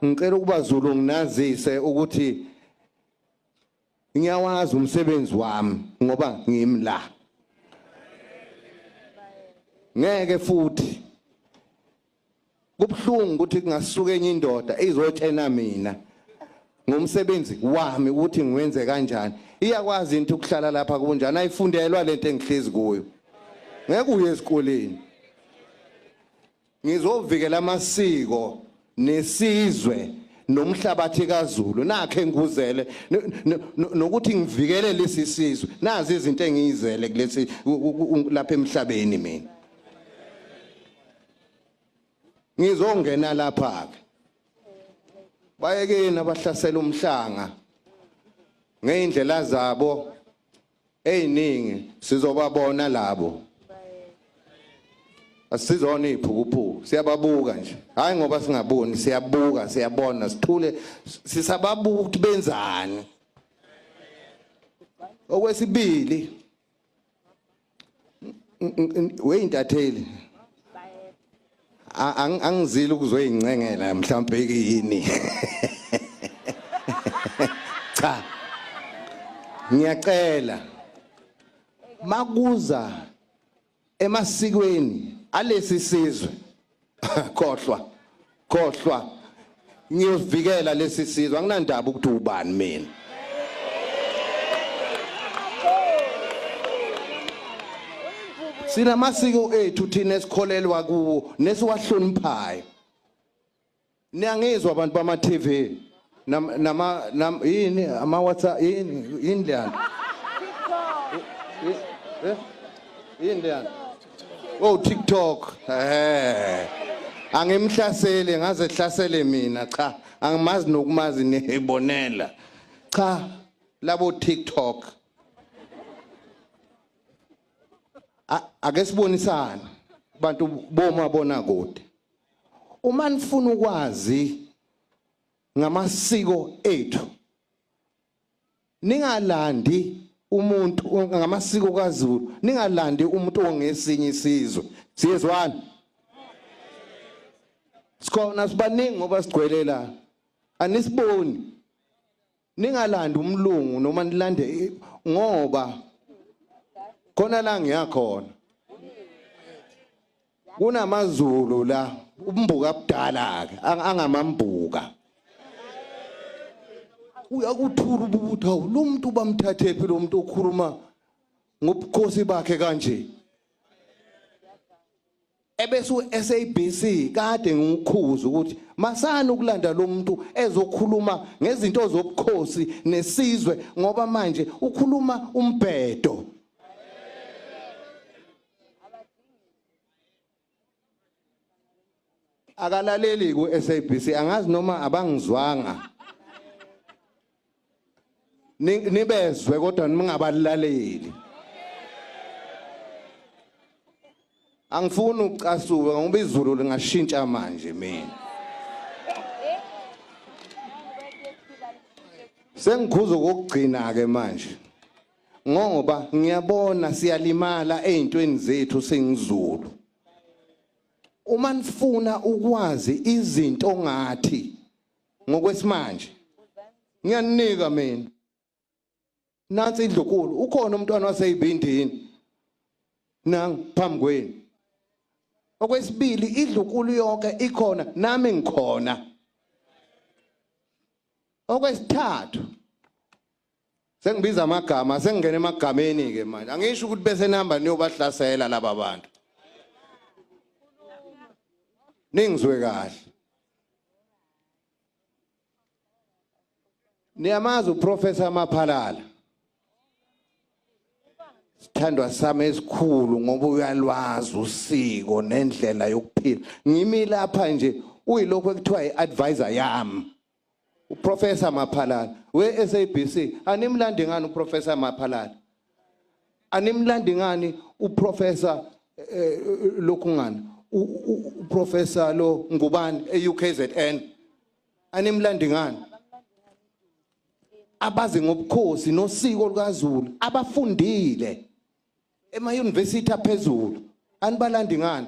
ngicela ukuba Zulu nginazise ukuthi ngiyawazi umsebenzi wami ngoba ngimi la ngeke futhi kubhlungu ukuthi kungasuka enye indoda izotshena mina ngomsebenzi wami ukuthi ngiwenze kanjani iyakwazi into ukuhlala lapha kunjani ayifundelwa lento engihlezi kuyo ngeke uye esikoleni Ngizovikela amasiko nesizwe nomhlabathi kaZulu nakhe ngikuzele nokuthi ngivikele lesi sizwe nazi izinto engiyizele kulesi lapha emhlabeni mina ngizongena lapha ke bayekeni abahlasela umhlanga ngeindlela zabo eziningi sizobabona labo asizona iphukuphuku siyababuka nje hayi ngoba singaboni siyabuka siyabona sithule sisababuka ukuthi benzani okwesibili weyintatheli angizile ukuzoyincengela mhlawumbe yini cha ngiyacela makuza emasikweni alesi sizwe khohlwa khohlwa ngiyosivikela lesi sizwe anginandaba ukuthi ubani mina sinamasiko ethu thina esikholelwa kuwo nesiwahloniphayo niyangizwa abantu bama TV nama nam yini ama WhatsApp yini yini leyana yini leyana Oh TikTok. Eh. Angimhlasele ngaze hlasele mina cha angimazi nokumazi nehibonela. Cha labo TikTok. Ake sibonisane bantu boma bona kude. Uma nifuna ukwazi ngamasiko ethu ningalandi umuntu ngamasiko kaZulu ningalandi umuntu ongesinye isizwe siyezwana sikhona sibaningi ngoba sigcwele la anisiboni ningalandi umlungu noma nilande ngoba khona la ngiyakhona kunamazulu la umbuka abudala ke angamambuka uyakuthula ububutha lo muntu bamthathephi lo muntu okhuluma ngobukhosi bakhe kanje ebese uSABC kade ngikukhuza ukuthi masana ukulanda lo muntu ezokhuluma ngezinto zobukhosi nesizwe ngoba manje ukhuluma umbhedo akalaleli ku SABC angazi noma abangizwanga nibezwe kodwa ningabalaleli angifuni ukucasuka ngoba izulu lingashintsha manje mina sengikhuza ukugcina ke manje ngoba ngiyabona siyalimala ezintweni zethu singizulu uma nifuna ukwazi izinto ngathi ngokwesimanje ngiyaninika mina nansi indlukulu ukhona umntwana waseyibindini nang phambi kwenu okwesibili idlukulu yonke ikhona nami ngikhona okwesithathu sengibiza amagama sengingena emagameni ke manje angisho ukuthi bese nihamba niyobahlasela laba bantu ningizwe kahle niyamazi uprofessor maphalala sithandwa sami esikhulu ngoba uyalwazi usiko nendlela yokuphila ngimi lapha nje uyilokho ekuthiwa i-advisor yami uprofessor maphalala we-sabc animlandi ngani uprofessor maphalala animlandi ngani uprofessor eh, lokhu ngani uprofessor lo ngubani e-ukzn animlandi ngani abazi ngobukhosi nosiko lukazulu abafundile emayunivesithi aphezulu anibalandi ngani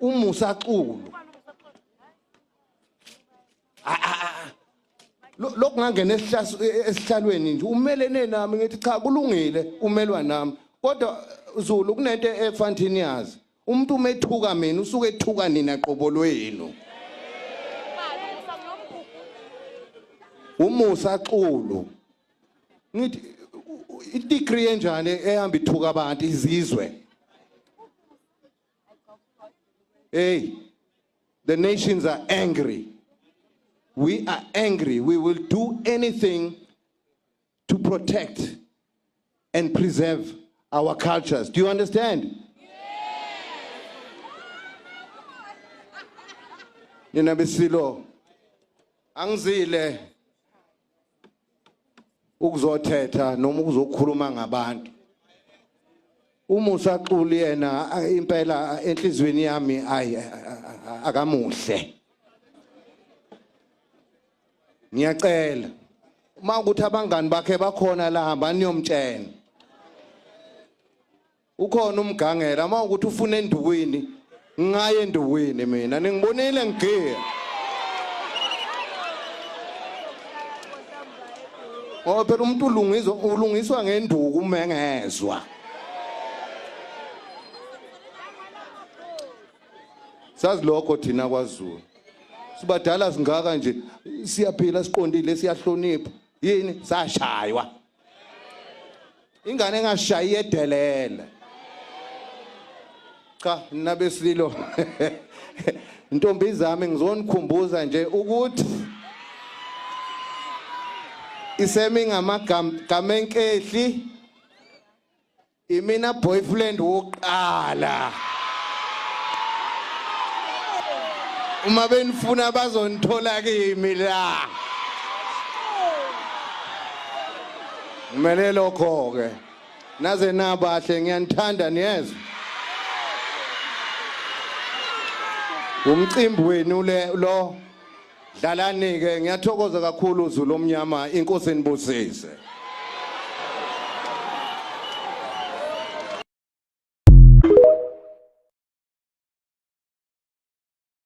umusa xulu lokungangena esihlalweni nje umelene nami ngithi cha kulungile umelwa nami kodwa Zulu kunento efanthini yazi umuntu umethuka mina usuke ethuka nina qobo lwenu umusa xulu ngithi i-degree enjani ehamba ithuka abantu izizwe hey the nations are angry we are angry we will do anything to protect and preserve our cultures do you understand nina besilo angizile ukuzothetha noma ukuzokhuluma ngabantu uma usaxuli yena impela enhlizweni yami ayi akamuhle ngiyacela uma ukuthi abangani bakhe bakhona la hamba niyomtshela ukhona umgangela uma ukuthi ufuna endukwini ngaye endukwini mina ningibonile ngigiya ngoba phela umuntu ulungiswa ulungiswa ngenduku uma engezwa sazi lokho thina kwazulu sibadala singaka nje siyaphila siqondile siyahlonipha yini sashaywa ingane engashayi edelele cha nina besililo ntombi zami ngizonikhumbuza nje ukuthi isemi ngamagama enkehli Imina boyfriend wokuqala. Uma benifuna bazonithola kimi la. Ngimele lokho ke. Naze nabahle ngiyanithanda niyezwa. Umcimbi wenu le lo Dlalani ke ngiyathokoza kakhulu Zulu omnyama inkosi enibusise.